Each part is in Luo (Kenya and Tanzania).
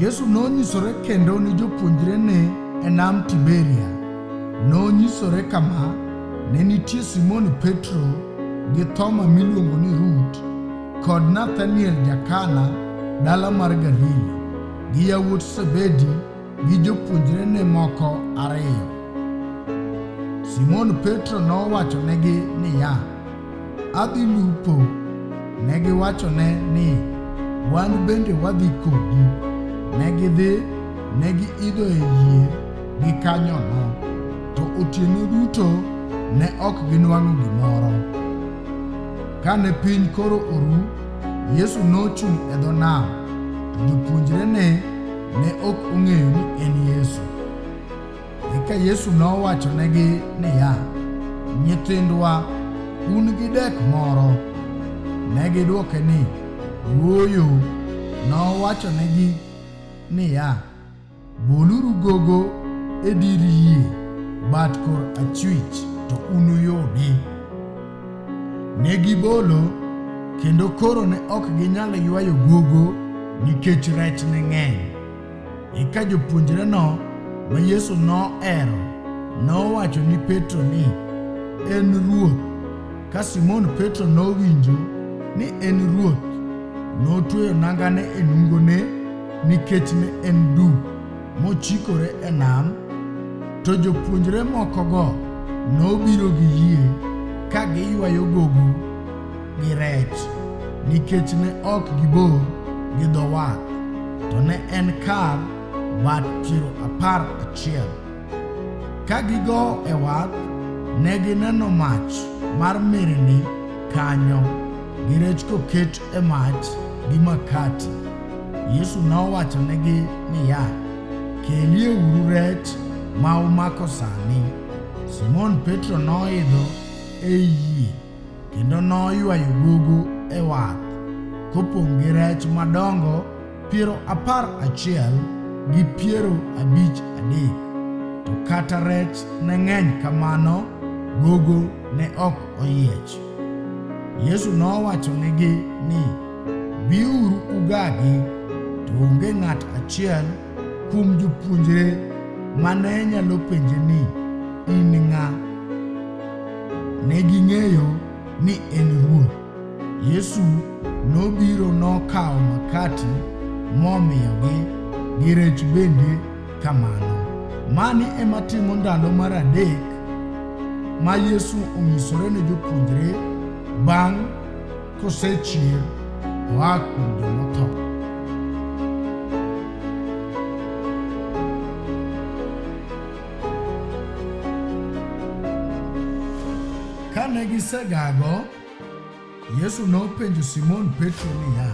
Yesu nonyisore kendo ni jopuonjrene e nam Tiberia. Nonyisore kama, ne nitie Simon Petro gi Thoma miluongo ni Rut kod Nathaniel Jakana dala mar Galili gi yawuot Sebedi gi jopuonjrene moko ariyo. Simon Petro nowachonegi niya, Adhi lupo. Ne giwachone ni, Wan bende wadhi kodi. Ne gidhi, ne giidho e yie gikanyono, to otieno duto ne ok ginwang'o gimoro. Kane piny koro oru, Yesu nochung' e dho nam, to jopuonjrene ne ok ong'eyo ni en Yesu. Eka Yesu nowachonegi niya, Nyithindwa, un gi dek moro? Ne gidwoke ni, Ooyo. Nowachonegi niya, Boluru gogo e dir yie bat kor achwich to unuyudi. Ne gibolo kendo koro ne ok ginyal ywayo gogo nikech rech ne ng'eny. Eka jopuonjreno ma Yesu nohero nowacho ni Petro ni, En Ruoth. Ka Simon Petro nowinjo ni en Ruoth, notweyo nangane e nungone nikech ne en duk, mochikore e nam. To jopuonjre mokogo nobiro gi yie ka giywayo gogo gi rech nikech ne ok gibor gi dho wath, to ne en kar wath piero apar achiel. Ka gigo e wath, ne gineno mach mar mirimbi kanyo, gi rech koket e mach gi makati. Yesu nowachonegi niya, Kelieuru rech ma umako sani. Simon Petro noidho ei yie kendo noywayo gogo e wath kopong' gi rech madongo piero apar achiel gi piero abich adek. To kata rech ne ng'eny kamano, gogo ne ok oyiech. Yesu nowachonegi ni, Biuru ugagi. To onge ng'at achiel Kuom jopuonjre ma ne nyalo penje ni, In ng'a? Ne ging'eyo ni en Ruoth. Yesu nobiro nokawo makati momiyogi gi rech bende kamano. Mani ema timo ndalo mar adek ma Yesu onyisore ne jopuonjre bang' Ko se chi wa ku do no to. Kane gisegago, Yesu nopenjo Simon Petro niya,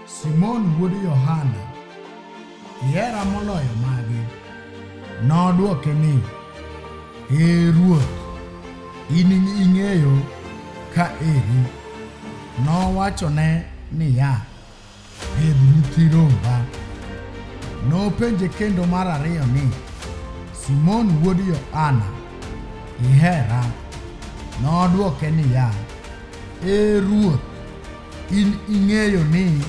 Simon wuod Yohana, Ihera moloyo magi? Nodwoke ni, Ee Ruoth, in ing'eyo ka eri. Nowachone niya, Pidh nyithi romba. Nopenje kendo mar ariyo ni, Simon wuod Yohana, ihera? Nodwoke niya, Ee Ruoth, In ing'eyo ni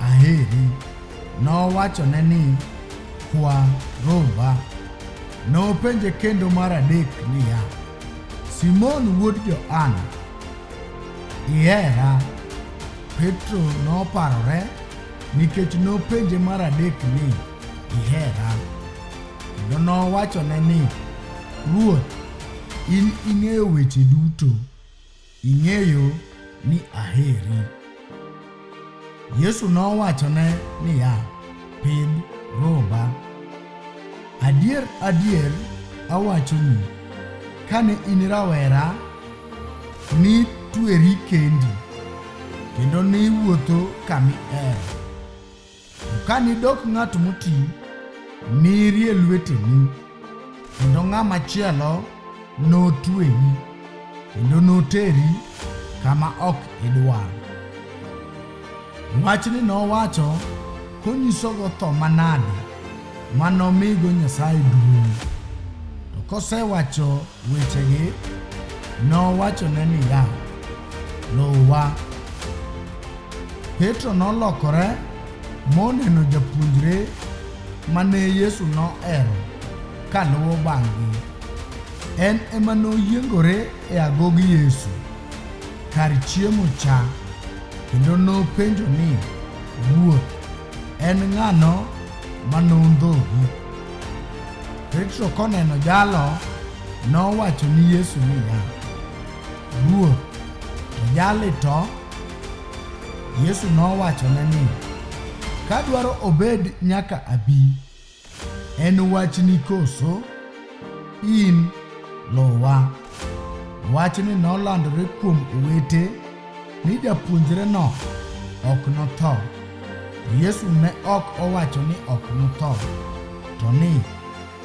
aheri. Nowachone ni, Kwa romba. Nopenje kendo mar adek niya, Simon wuod Johana, ihera? Petro noparore nikech nopenje mar adek ni, Ihera? Kendo nowachone ni, Ruoth, in ing'eyo weche duto. Ing'eyo ni aheri. Yesu nowachone niya, Pidh romba. Adier, adier, awachoni, kane in rawera, nitweri kendi, kendo niwuotho kami er. Ka nidok ng'at moti, nirie lweteni, kendo ng'ama chielo notweyi, kendo noteri kama ok idwar. Wachni nowacho konyisogo tho manade ma nomigo Nyasaye duong'. To kosewacho wechegi, nowachone niya, Luwa. Petro nolokore moneno japuonjre ma ne Yesu nohero ka luwo bang'gi. En ema noyiengore e agogi Yesu kar chiemo cha kendo nopenjo ni, Ruoth, En ng'ano ma nondhogu? Petro koneno jalo nowacho ni Yesu niya, Ruoth, to jali to? Yesu nowachone ni, Kadwaro obed nyaka abi, En wachni koso? In luwa. Wachni nolandore kuom owete ni japuonjreno ok notho. Yesu ne ok owacho ni ok notho, to ni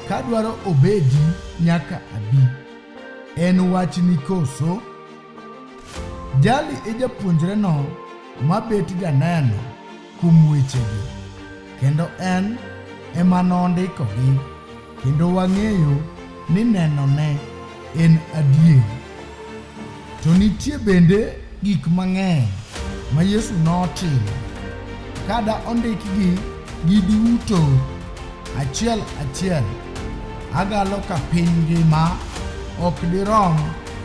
ka dwaro obedi nyaka abi. En wachni koso? Jali e japuonjreno ma bet janeno kuom wechegi, kendo en ema nondikogi, kendo wang'eyo ni nenone en adier. To nitie bende gik mang'eny ma Yesu notimo. Kada ondikgi gi duto achiel achiel, agalo ka piny ngima ok dirom